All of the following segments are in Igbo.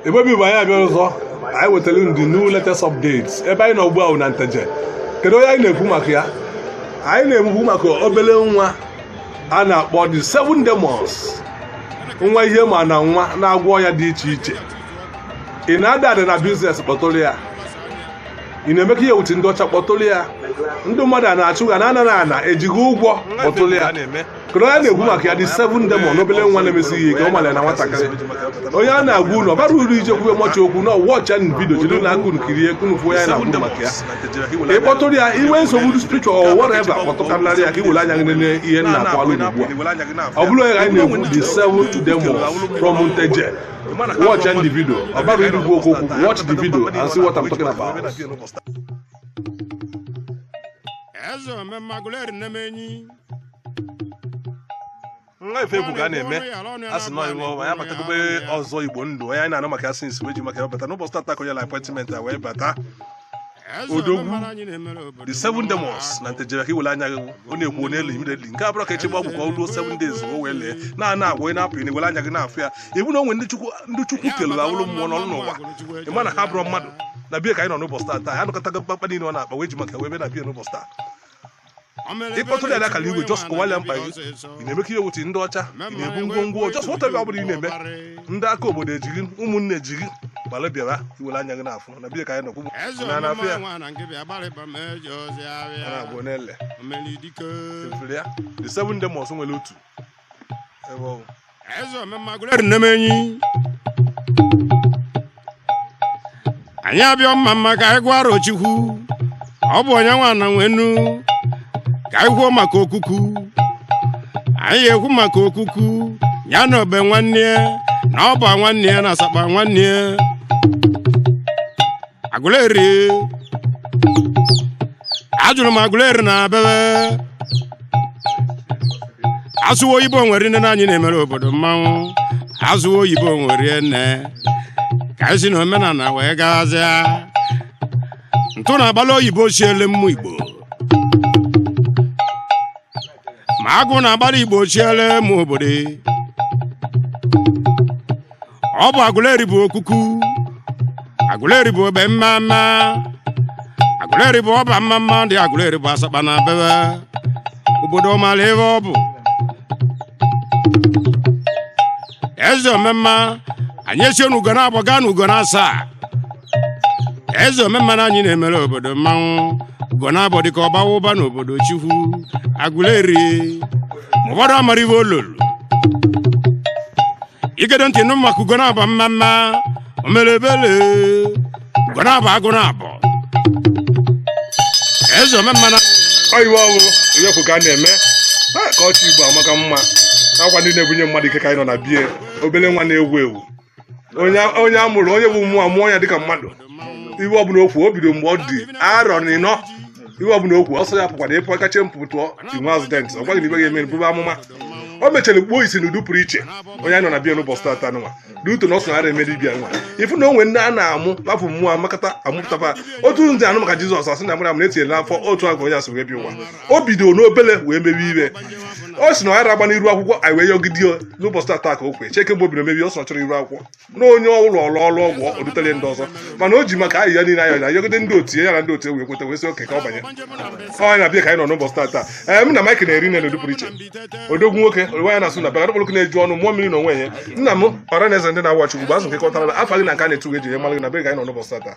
Igbo bụ Igbo anyị abịa ọzọ anyị wetara ndị new latest updates ebe anyị nọ ugbu a wụ na nteje kedu onye anyị na-ekwu maka ya anyị na-ekwu maka obele nwa a na-akpọ the seven demons nwa ihe ma na nwa na-agwọ ọya dị iche iche ị na-ada ada na biznes kpọtụrụ ya ị na-eme ka ihe wute ndị ọcha kpọtụrụ ya ndị mmadụ a na-achụ ga na ana na ana eji gị ụgwọ kpọtụrụ ya kedu onye a na-ekwu maka ya the seven demon n'obele nwa na-emesi ihe ike ọ mara na nwatakịrị onye a na-agwa unu ọ barọ uru ije kwuwe much okwu na watch nụ video jiri nụ aka unu kirie ka unu fụ onye a na-agwa maka ya ị kpọtụrụ ya i nwe nsogbu spiritual or whatever kpọtụkarịrị ya ka i were anya gị nene ihe m na-akọwalụ ugbu a ọ bụrụ onye ka anyị na-ekwu the seven demon from nteje watch nụ the video ọ barọ uru ikwu okwu okwu watch the video and see what I'm talking about eze omemma agụleri nnemenyi nwa ife egwu ka a na-eme a sị nọ iwe ọma anyị abatagobe ọzọ igbo ndụ onye anyị na-anụ maka ya since wee ji maka ya bata n'ụbọchị tata ka o nyelụ appointment a wee bata odogwu the seven demons na nteje ka i were anya gị ọ na-ekwu n'elu immediately nke a abụrọ ka e chebe ọgwụ ka o ruo seven days o wee lee na ana agwa onye na-apụ na i were anya gị na-afụ ya ibu na o nwe ndị chukwu ndị chukwu kelere ha wụrụ mmụọ nọrọ n'ụwa ị ma na ha bụrụ mmadụ na be ya ka anyị nọ n'ụbọchị tata anyị anụkọtago mkpakpa niile ọ na-akpa wee ji maka wee bịa na be ya n'ụbọchị taa ị kpọtụrụ ya n'akara igwe just kọwalụ ya mkpa gị ị na-eme ka ihe wute ndị ọcha ị na-ebu ngwongwo just whatever ọ bụla ị na-eme ndị aka obodo ejiri ụmụnne ejiri gbara bịara i were anya gị na-afụ na be ya ka anyị nọkwu na na afịa a na-abụ n'ele efere ya the seven demons nwere otu ebe ọ bụ eze omemma agụleri nnemenyi anyị abịa mma mma ka anyị gwa arọchukwu ọ bụ onye nwe ana nwe enu ka anyị kwuo maka okuku anyị ekwu maka okuku ya na obe nwanne ya na ọba nwanne ya na asakpa nwanne ya agụleri ajụrụ m agụleri na abebe asụwa oyibo nwere nne na anyị na-emere obodo mmanwụ asụwa oyibo nwere nne ka anyị si na omenala wee gazia ntụ na-agbalụ oyibo siele mmụ igbo ma agụ na-agbalụ igbo chiele mmụ obodo ọ bụ agụleri bụ okuku agụleri bụ obe mmamma agụleri bụ ọba mmamma ndị agụleri bụ asakpa na bebe obodo mara ife ọ bụ eze omemma anyị esi n'ugo naabọ gaa n'ugo na asaa eze omemma na anyị na-emere obodo mmanwụ ugo na-abọ dịka ọbawa ụba n'obodo chukwu aguleri ma ụfọdụ amara ive olulu i gedo ntị nụ maka ugo na-abọ mma mma omelebele ugo na-abọ agụ na-abọ eze omemma na ọyịwa ọwụ onye kwu ka a na-eme ha ka ọchị igbo amaka mma akwa ndị na-ebunye mmadụ ike ka anyị nọ na bie obele nwa na-ewu ewu onye a mụrụ onye bụ mmụọ a mụọ ya dịka mmadụ ive ọbụla o kwu o bido mgbe ọ dị arọ na ịnọ ive ọbụla o kwu ọsọ ya pụkwara ịpụ kacha mpụ tụọ inwe accident ọ gwa gị na ive ga-eme buba amụma o mechara kpuo isi n'ụdị pụrụ iche onye anyị nọ na bie n'ụbọchị tata nwa n'uto na ọ sọ nara eme dibịa nwa ifu na o nwe ndị a na-amụ lapụ mmụọ amakata amụpụtaba otu ndị a nụ maka jizọs a sị na mara m na etinyela afọ otu agụ onye a si wee bịa ụwa o bido n'obele wee mewe ive ọ sị na ọ agba n'iru akwụkwọ anyị wee yọgide ya n'ụbọchị tata ka o kwee cheke mgbe o bido mebe ọ sọ chọrọ iru akwụkwọ na onye ọrụ ọrụ ọrụ ọgwụ ọ dutere ndị ọzọ mana o ji maka ayịyọ niile anyị na-ayọgide ndị otu ya na ndị otu wee kweta wee sị okay ka ọ banye ọ na-abịa ka anyị nọ n'ụbọchị tata ee nna m ike na-eri nne n'ụdị pụrụ iche odogwu nwoke onwe ya na-asụ na bịa okpoloko na-eju ọnụ mmụọ mmiri na onwe ya nna m ọra na eze ndị na-awa chukwu bụ azụ nke kọtara afa gị na nke a na-etu gị eji ya mara gị na be gị anyị nọ n'ụbọchị tata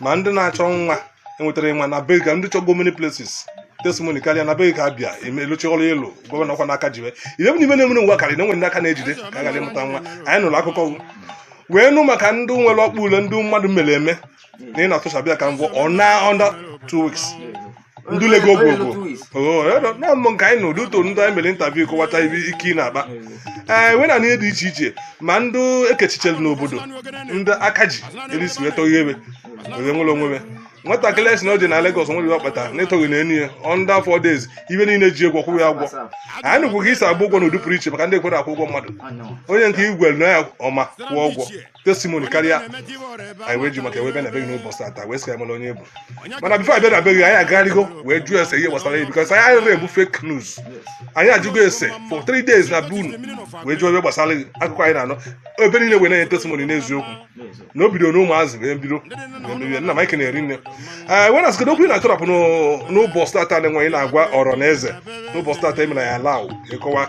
ma ndị na-achọ nwa enwetara nwa na be gị ndị chọgo many places testimony karịa na be gị a bịa emeluchi ọrụ ịlụ gọvanọ kwa n'aka jiwe ihe bụ n'ime na-emere ngwa karịrị na enwere ndị aka na-ejide ka a ghara ịmụta nwa anyị nụrụ akụkọ gị. wee nụ maka ndị nwere ọkpa ule ndị mmadụ mere eme na ị na-atụchabịa ka mbụ ọ na under two weeks ndị lego bụ bụ nọmụ nke anyị na ụdị ụtọ ndị anyị mere interview kọwata ive ike ị na-akpa ee wee na ihe dị iche iche ma ndị ekechichelu n'obodo ndị aka ji erisi wee tọghị ebe wee nwere onwe me nwatakịrị a sị na ọ dị na Lagos nwere ọkpa tara n'ịtọghị na enyi ya under four days ive niile ji egwu ọkwụrụ ya agwọ anyị nụkwu ka i si agba ụgwọ na ụdị pụrụ iche maka ndị ekwere akwụ ụgwọ mmadụ onye nke igwe na ya ọma kwụọ ụgwọ testimony karịa anyị wee ji maka ya wee bịa na be gị n'ụbọchị tata wee sị a mara onye bụ mana before a bịa na be gị anyị agagharịgo wee jụọ ese ihe gbasara ya because anyị anaghị ebu fake news anyị ajụgo ese for three days na be unu wee jụọ ive gbasara gị akụkọ anyị na-anụ ebe niile wee na-enye testimony n'eziokwu na o bidoro n'ụmụazị wee bido mebe ive nna m ike na-eri nne ee wee na sịgodo okwu ị na-atọrapụ n'ụbọchị tata na-enweghị na-agwa ọra na eze n'ụbọchị tata e mere ya laụ ịkọwa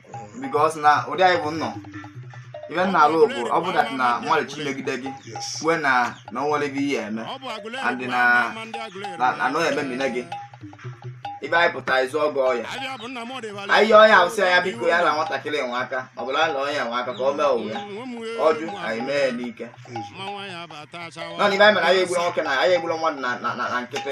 because na ụdị anyị bụ nnọọ ive m na-alụ bụ ọ bụ that na mmadụ chi megide gị kwue na na o nwere ive ihe eme and na anọghị eme mmine gị ive anyị pụta ịzụ ọgọ ọya anyị yọọ ya awụsị ya biko ya na nwatakịrị enwe aka ọ bụla na onye enwe aka ka ọ mee owu ya ọ jụ anyị mee ya n'ike nọ n'ive anyị mere anyị egbula nwoke na anyị egbula mmadụ na nkịtị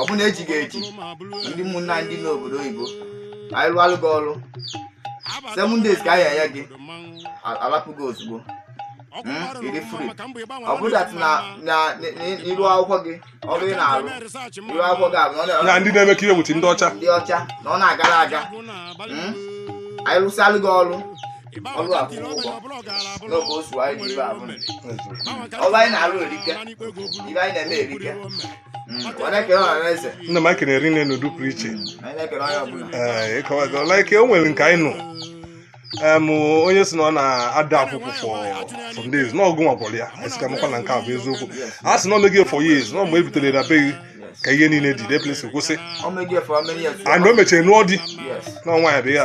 ọ bụ na e ji gị eji ndị ụmụnna ndị n'obodo oyibo anyị rụalụ gị ọrụ seven days ka anyị enye gị a- alapụ gị ozugbo Mm, ị dịrị free. ọ bụrụ that na na na- na- iru akwụkwọ gị ọrụ ị na-arụ iru akwụkwọ gị abụ na ọ na- na ndị na-eme ka iwe wuchi ndị ọcha ndị ọcha na ọ na-agara aga Mm, anyị rụsịalụ gị ọrụ ọrụ a kwụrụ ụgwọ n'oge osu anyị ji ibe abụ ọrụ anyị na-arụ erike ife anyị na-eme erike nna m ekene rinne n'ụdị pụrụ iche ịkọwago like o nwere nke anyị nụ em onye si na ọ na-ada akwụkwụ for some days na ọ gụ nwa gwọrọ ya anyị sị ka makwa na nke a bụ eziokwu a sị na o mego ya for years na mgbe e butere na be gị ka ihe niile dị de place kwụsị and o mechara nụọ di na ọnwa ya bụ ya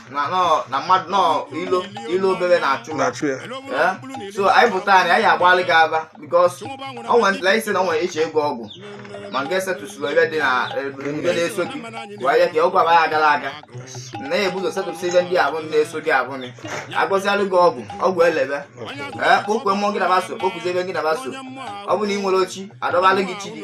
na nọ- na mmadụ nọ ilo ilo obere na-achụ ha na-achụ ya Eh? so anyị pụta anyị anyị agbalụ gị afa because o nwere ntụla isi na o nwere ị je-agwọ ọgwụ ma nke setụsịrị ebe dị na ebe na-eso gị wee ya ka ọgwụ abaghị agara aga na ya e bu ụzọ setụsị ihe ndị afụ na-eso gị abụ gị agọzialụ gị ọgwụ ọgwụ elebe ee kpọkue mmụọ gị na fa so kpọkuzie ife gị na fa so ọ bụ na ị nwerọ chi a dọbalụ gị chi gị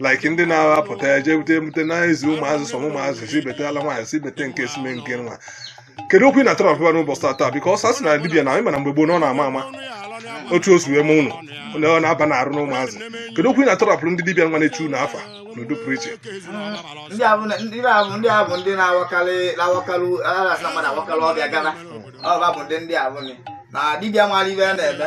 like ndị na-apụta ya jee bute ebute na-ezi ụmụazị sọ ụmụazị si betala nwaanyị si bete nke si mee nke nwa kedu okwu ị na-atara ọfụma n'ụbọchị taa taa because a sị na dibịa na anyị ma na mgbe gboo na ọ na-ama ama otu o si wee mee ụnụ na ọ na-aba na-arụ na ụmụazị kedu okwu ị na-atọrọpụrụ ndị dibịa nwa na-echu unu afa n'ụdị pụrụ iche ndị a bụ na- ndị a bụ ndị a bụ ndị na-awakarị na-awakarị a na-asị na mmadụ awakarị ọbịa gana ọba bụ ndị ndị a bụ nị. na dibịa mara ife a na-eme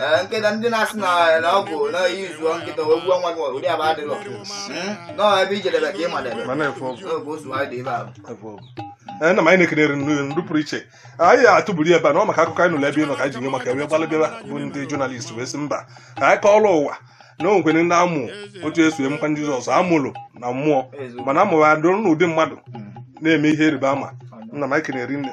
Ee, nkịta ndị na-asị na na ọ bụ na iyi zuo nkịta wee gbuo nwa gị ụdị afụ adịrọ Mm, na ọ ebe i jedebe ka ị madebe ma na-efe ọgwụ n'oge osu anyị dị ebe ahụ efe ọgwụ ee nna m anyị na-ekene rinne n'ụdị pụrụ iche anyị atụburu ebe a na ọ maka akụkọ anyị nụrụ ebe ị nọ ka anyị ji nye maka wee gbalị bịa bụ ndị journalist wee sị mba ka anyị kọọrọ ụwa na o nwekwere ndị a mụ otu e si mụkwa ndị jizọs a mụrụ na mmụọ Eziokwu. mana a mụrụ adụrụ n'ụdị mmadụ na-eme ihe ịrịba ama nna m anyị kenee rinne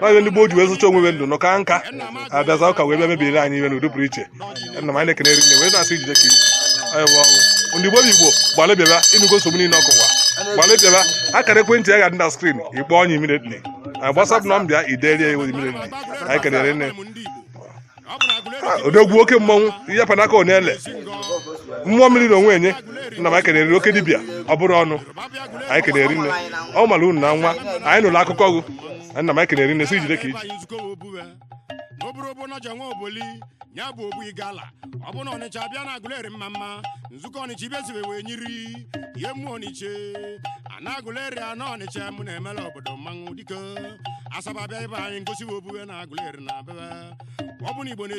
onye ndị gboo ji wee zụcha onwe ndụ nọ ka nka abịazịa ụka wee bịa mebiri anyị ife n'ụdị pụrụ iche nna m anyị na-ekene rinne wee na-asị jide ka i ji onye bụ ọnwụ ndị igbo bụ igbo gbalị bịaba ịnụgo nsogbu niile ọkụwa gbalị bịaba akara ekwentị ya ga-adị na screen ị kpọọ ya immediately WhatsApp number ya i deere ya immediately anyị kenee rinne odogwu oke mmọnwụ ihe panaka onele mmụọ mmiri na onwe enye nna m anyị kenere oke dibịa ọ bụrụ ọnụ anyị kenee rinne ọ mara unu na nwa anyị nụrụ akụkọ gụ nna m anyị kenee rinne sị jide ka i ji n'oburu bụ ọnọja nwa oboli ya bụ ogbu igala ọ bụ na ọnịcha bịa na agụleri mma mma nzukọ ọnịcha ibesibe wee nyiri ihe mmụọ ọnịcha ana agụleri ana ọnịcha mụ na-emela obodo mmanwụ dike asaba bịa be anyị ngosi bụ obuwe na agụleri na abebe ọ bụ na igbo na-esi